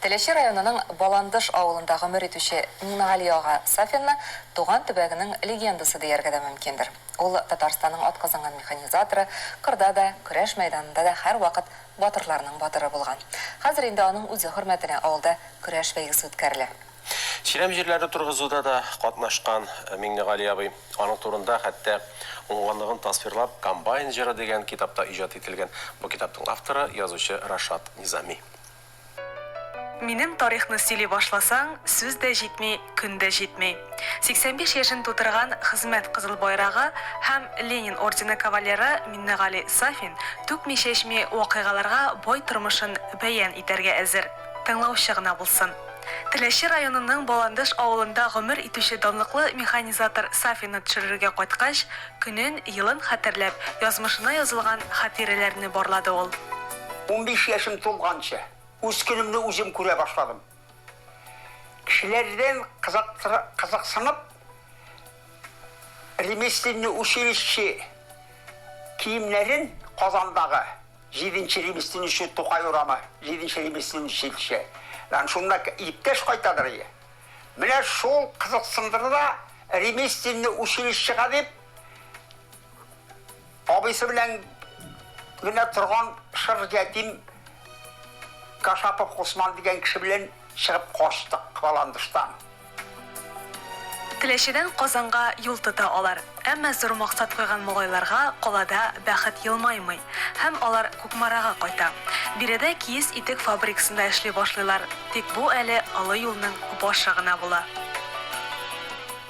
Теләче районының Баландыш авылында гомер итүче Миңнегали ага Сафинны туган төбәгенең легендасы дияргә дә мөмкиндер. Ул, Татарстанның атказанган механизаторы, кырда да, көрәш мәйданында да һәрвакыт батырларның батыры булган. Хәзер инде аның үзе хөрмәтенә авылда көрәш бәйгесе үткәрелә. Чирәм җирләре торгызуда да катнашкан Миңнегали абый. Аның турында хәтта уңганлыгын тасвирлап Комбайн җыры дигән китап та иҗат ителгән. Бу китапның авторы, язучы Рашат Низами. Минем тарихны сөйли башласаң, сүз дә җитми, көн дә җитми. 85 яшен тутырган Хезмәт Кызыл Байрагы һәм Ленин ордены кавалеры Миннегали Сафин түкми-чәчми вакыйгаларга бай тормышын бәян итәргә әзер. Тыңлаучы гына булсын. Теләче районының Баландыш авылында гомер итүче данлыклы механизатор Сафины төшерергә кайткач, көнен, елын хәтерләп, язмышына язылган хатирәләрне барлады ул. Унбиш яшем тулганчы, үз көнемне үзем күрә башладым. Кешеләрдән кызыксынып, ремесленный училище киемнәрен Казандагы Җиденче ремеслен иши Тукай урамы, җиденче ремеслен ишилче дан шунда к иптәш кайтадыр ие. Менә шул кызыксындырды да, ремесленный училищега дип абыйсы белән генә торган шыр ятим Кашапов Госман дигән кеше белән чыгып качтык Кваландыштан. Теләчедән Казанга юл тота алар. Әмма зур максат куйган малайларга калада бәхет елмаймый, һәм алар Кукмарага кайта. Биредә киез итек фабрикасында эшли башлыйлар, тик бу әле олы юлның башы гына була.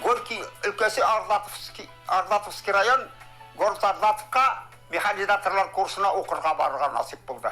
Горки өлкәсе Ардатовски Ардатовски район Город Ардатовка механизаторлар курсына укырга барырга насыйп булды.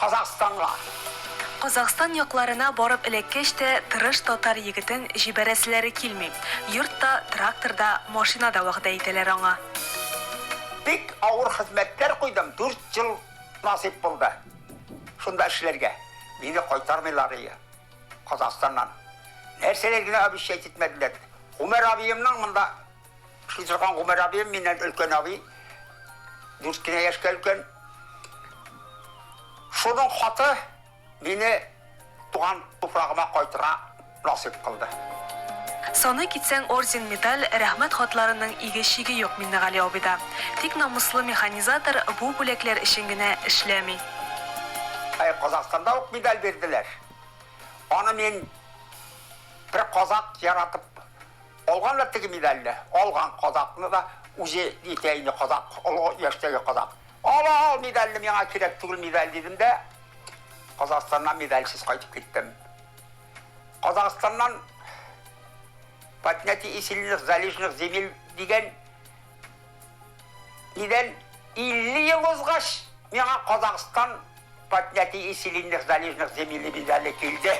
Казахстанга. Казахстан якларына барып эләккәч тә, тырыш татар егетен җибәрәселәре килми. Йорт та, трактор да, машина да вәгъдә итәләр аңа. Бик авыр хезмәтләр куйдым, дүрт ел насыйп булды шунда эшләргә. Мине кайтармыйларые Казахстаннан. Нәрсәләр генә обещать итмәделәр. Гомәр абыемның монда. Эшли торган Гомәр абыем миннән өлкән абый. Дүрт кенә яшькә өлкән. Шуның хаты мине туган туфрагыма кайтырга насыйп кылды. Саный китсәң, орден, медаль, рәхмәт хатларының иге-чиге юк Миннегали абыйда. Тик намуслы механизатор бу бүләкләр өчен генә эшләми. Әй, Казахстанда ук медаль бирделәр. Аны мин бер казакъ яратып. Алганнар теге медальне, алган кадакны да, үзе әйтә инде, кадак, олы яшьтәге кадак. Ал, ал медальне, миңа кирәк түгел медаль, дидем дә, Казахстаннан медальсез кайтып киттем. Казахстаннан Поднятие и сильных залежных земель дигән Тиздән 50 ел узгач, миңа Казахстан Поднятие и сильных залежных земель медале килде.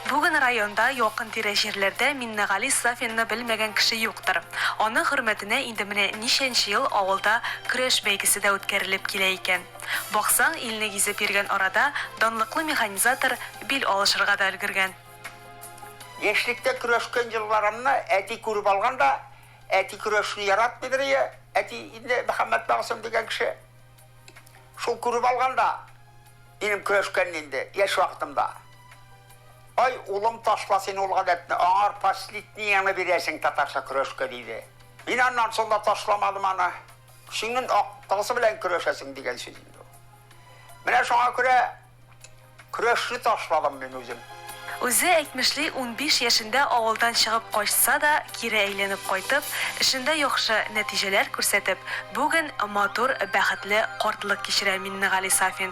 Бүген районда, якын-тирә җирләрдә Миннегали Сафинны белмәгән кеше юктыр. Аның хөрмәтенә инде менә ничәнче ел авылда көрәш бәйгесе дә үткәрелеп килә икән. Баксаң, илне гизеп йөргән арада данлыклы механизатор бил алышырга да өлгергән. Яшьлектә көрәшкән елларымны әти күреп алган да, Әти көрәшне яратмыйдыр ие, әти инде Мөхәммәт Мәгъсүм дигән кеше. Шул күреп алган да минем көрәшкәнне инде яшь вакытымда. Ай, улым, ташла син ул гадәтне, аңар последнияңне бирәсең, татарча көрәшкә, диде. Мин аннан соң да ташламадым аны. Көчеңнен актыгысы белән көрәшәсең, дигән сүз инде ул. Менә шуңа күрә Көрәшне ташладым мин үзем. Үзе әйтмешли, унбиш яшендә авылдан чыгып качса да, кире әйләнеп кайтып, эшендә яхшы нәтиҗәләр күрсәтеп, бүген матур, бәхетле картлык кичерә Миннегали Сафин.